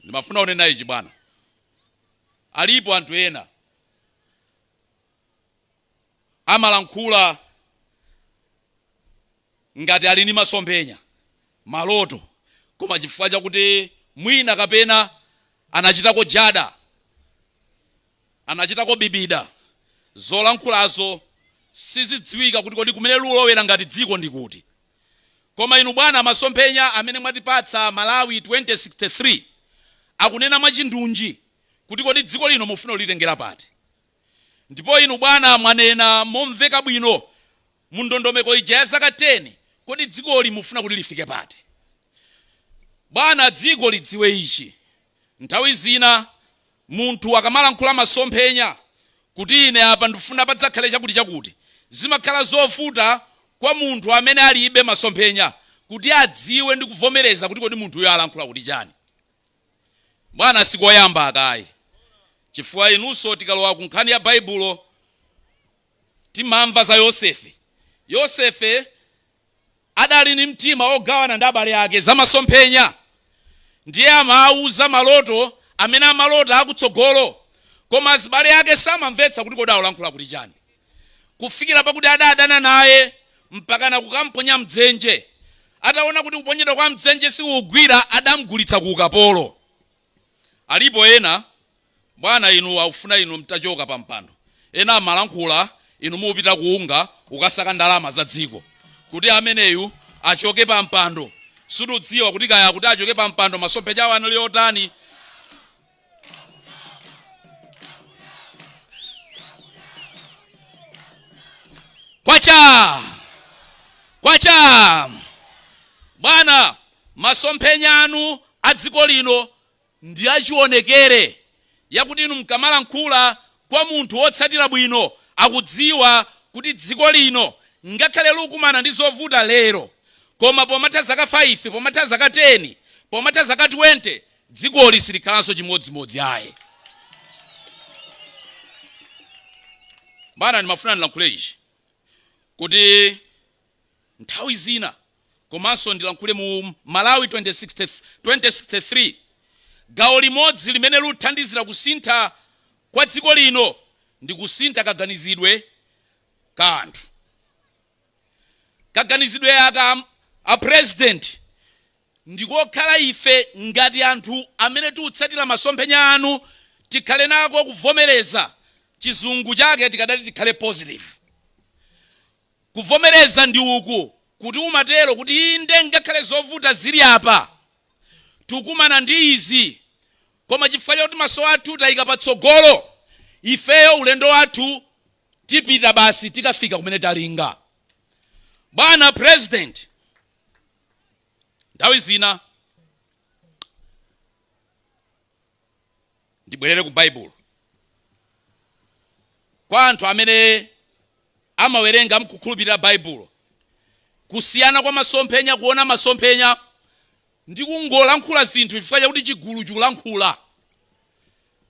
ndimafuna ninene ichi bwana alipo anthu ena amalankhula ngati ali ndi masomphenya maloto koma chifukwa chakuti mwina kapena anachitako jada anachitako bibida zolankhulazo sizidziwika kuti kodi kumene lulowera ngati dziko ndi kuti Koma inu bwana masomphenya amene mwatipatsa Malawi 2063 akunena mwachindunji kuti kodi dziko lino mufuna kulitengera pati? Ndipo inu bwana mwanena momveka bwino mu ndondomeko ija ya zaka 10 kodi dzikoli mufuna kuti lifike pati? Bwana dziko lidziwe ichi Nthawi zina munthu akamalankhula masomphenya kuti ine apa ndifuna padzakhale chakuti chakuti, zimakhala zovuta kwa munthu amene alibe masomphenya kuti adziwe ndi kuvomereza kuti kodi munthuyo alankhula kuti chani. Bwana sikoyamba aka ayi chifukwa inunso tikalowa ku nkhani ya Baibulo Timamva za Yosefe. Yosefe adali ndi mtima wogawana ndi abale ake za masomphenya. Ndiye amawauza maloto amene amalota akutsogolo. Koma azibale ake samamvetsa kuti kodi akulankhula kuti chani. Kufikira pakuti adadana naye mpakana kukamponya m'dzenje. Ataona kuti kuponyedwa kwa m'dzenje sikukugwira adamgulitsa ku ukapolo. Alipo ena, bwana, inu akufuna inu mtachoka pa mpando, ena amalankhula, inu mupita ku UNGA kukasaka ndalama za dziko, kuti ameneyu achoke pa mpando. Situdziwa kuti kaya akuti achoke pa mpando masomphenya awo anali otani. Kwacha! Kwacha! Bwana, Masomphenya anu a dziko lino ndi achionekere yakuti inu mkamalankhula kwa munthu wotsatira bwino akudziwa kuti dziko lino ngakhale likukumana ndi zovuta lero koma pomatha zaka 5, pomatha zaka 10, pomatha zaka 20 dzikoli silikhalanso chimodzimodzi ayi. Bwana ndimafuna ndilankhule ichi kuti. nthawi zina komanso ndilankhule mu Malawi 2063 gawo limodzi limene luthandizira kusintha kwa dziko lino ndi kusintha kaganizidwe ka anthu kaganizidwe aka a president ndikokhala ife ngati anthu amene tiutsatira masomphenya anu tikhale nako kuvomereza chizungu chake tikadati tikhale positive Kuvomereza ndi uku, kuti umatero, kuti inde, ngakhale zovuta zili apa, tukumana ndi izi, koma chifukwa chakuti maso athu tayika patsogolo, ifeyo ulendo wathu tipita basi tikafika kumene talinga. Bwana President, nthawi zina, ndibwerere ku baibulo kwa anthu amene amawerenga mkukhulupirira baibulo kusiyana kwa masomphenya kuona masomphenya ndi kungolankhula zinthu chifukwa chakuti chigulu chikulankhula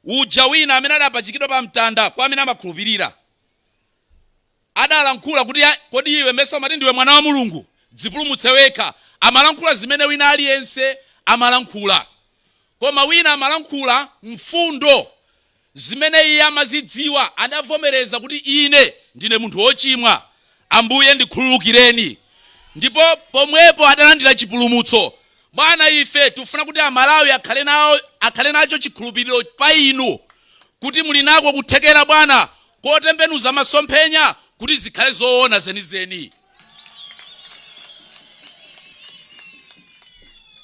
uja wina amene adapachikidwa pa mtanda kwa amene amakhulupirira adalankhula kuti kodi iwe mesa umati ndiwe mwana wa mulungu dzipulumutse wekha amalankhula zimene wina aliyense amalankhula koma wina amalankhula mfundo zimene iye amazidziwa adavomereza kuti ine ndine munthu wochimwa ambuye ndikhululukireni ndipo pomwepo adalandira chipulumutso bwana ife tifuna kuti amalawi akhale nacho chikhulupiriro pa inu kuti muli nako kuthekera bwana kotembenuza masomphenya kuti zikhale zoona zenizeni.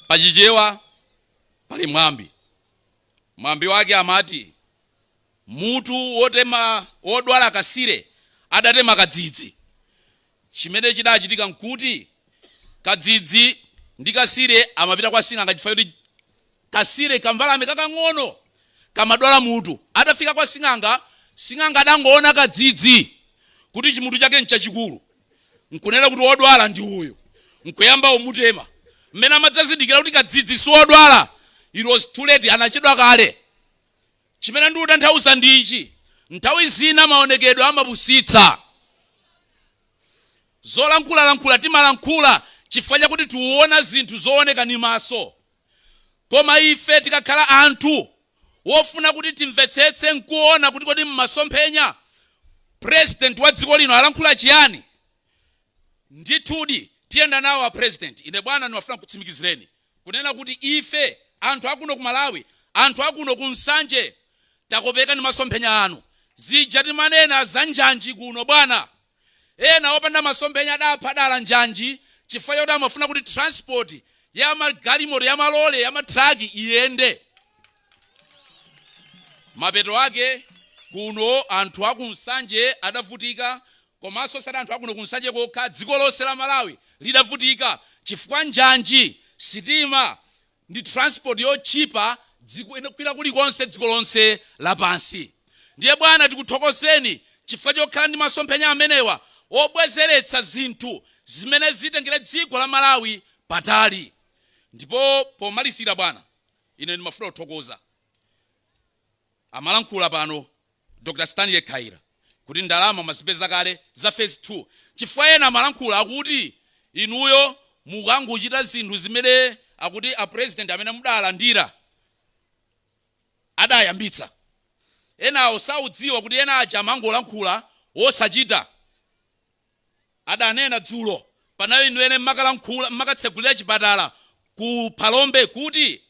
Pa Chichewa pali mwambi. Mwambi wake amati, Mutu wotema wodwala kasire adatema kadzidzi. Chimene chidachitika n'kuti kadzidzi ndi kasire amapita kwa sing'anga chifukwa choti Kasire, kambalame kakang'ono, kamadwala mutu. Atafika kwa sing'anga, sing'anga adangoona kadzidzi kuti chimutu chake nchachikulu. Nkunena kuti wodwala ndi uyu. Nkuyamba umutema. Mmene amadzazindikira kuti kadzidzi siwodwala, it was too late, anachedwa kale. Chimene ndikutanthauza ndi ichi, nthawi zina maonekedwe amapusitsa. Zolankhulalankhula timalankhula chifukwa chakuti tuona zinthu zooneka ndi maso. Koma ife tikakhala anthu wofuna kuti timvetsetse nkuona kuti kodi mmasomphenya president wa dziko lino alankhula chiyani, ndithudi tiyenda nawo a president. Ine bwana ndimafuna nkutsimikizireni kunena kuti ife anthu akuno ku Malawi, anthu akuno ku Nsanje takopeka ndi masomphenya anu. Zija timanena za njanji kuno bwana. Ena opanda masomphenya adapha dala njanji chifukwa choti amafuna kuti transport ya magalimoto, ya malole, ya matruck iyende. Mapeto ake kuno anthu a ku Nsanje adavutika komanso osati anthu a kuno ku Nsanje kokha, dziko lonse la Malawi lidavutika chifukwa njanji, sitima, ndi transport yotchipa kwina kulikonse dziko lonse lapansi ndiye bwana tikuthokozeni chifukwa chokhala ndi masomphenya amenewa obwezeretsa zinthu zimene zitengere dziko la malawi patali ndipo pomalizira bwana ine ndimafuna kuthokoza Amalankhula pano Dr Stanley Khaila kuti ndalama mwazipeza kale za phase 2 chifukwa ena amalankhula akuti inuyo mukungochita zinthu zimene akuti a president amene mudalandira adayambitsa enawo saudziwa kuti ena aja amangolankhula osachita adanena dzulo pamene inu mmakalankhula mmakatsegulira chipatala ku Phalombe kuti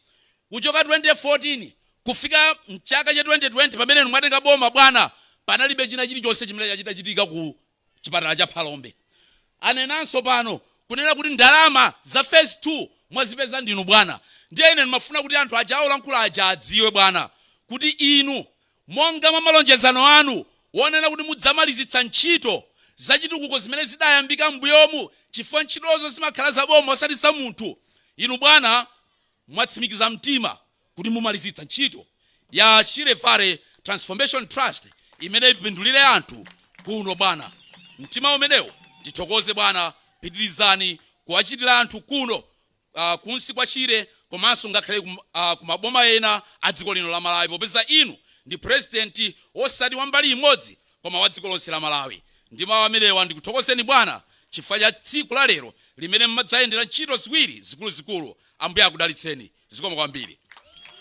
kuchoka 2014 kufika mchaka cha 2020 pamene inu mwatenga boma bwana panalibe china chilichonse chimene chachitika ku chipatala cha Phalombe. Anenanso pano kunena kuti ndalama za phase 2 mwazipeza ndinu bwana. Ndiye ine ndimafuna kuti anthu aja olankhula aja adziwe bwana kuti inu Monga mwa malonjezano anu wonena kuti mudzamalizitsa ntchito zachitukuko zimene zidayambika m'mbuyomu, chifukwa ntchitozo zimakhala za boma osati za munthu, inu bwana mwatsimikiza mtima kuti mumalizitsa ntchito ya Shire Valley Transformation Trust imene ipindulire anthu kuno bwana. Mtima umenewo tithokoze bwana, pitirizani kuwachitira anthu kuno. uh, kunsi kwa shire komanso ngakhale kum, uh, kumaboma ena a dziko lino la malawi popeza inu ndi purezidenti wosati wa mbali imodzi koma wa dziko lonse la malawi ndi mawu amenewa ndikuthokozeni bwana chifukwa cha tsiku la lero limene mwadzayendera ntchito ziwiri zikuluzikulu ambuye akudalitseni zikomo kwambiri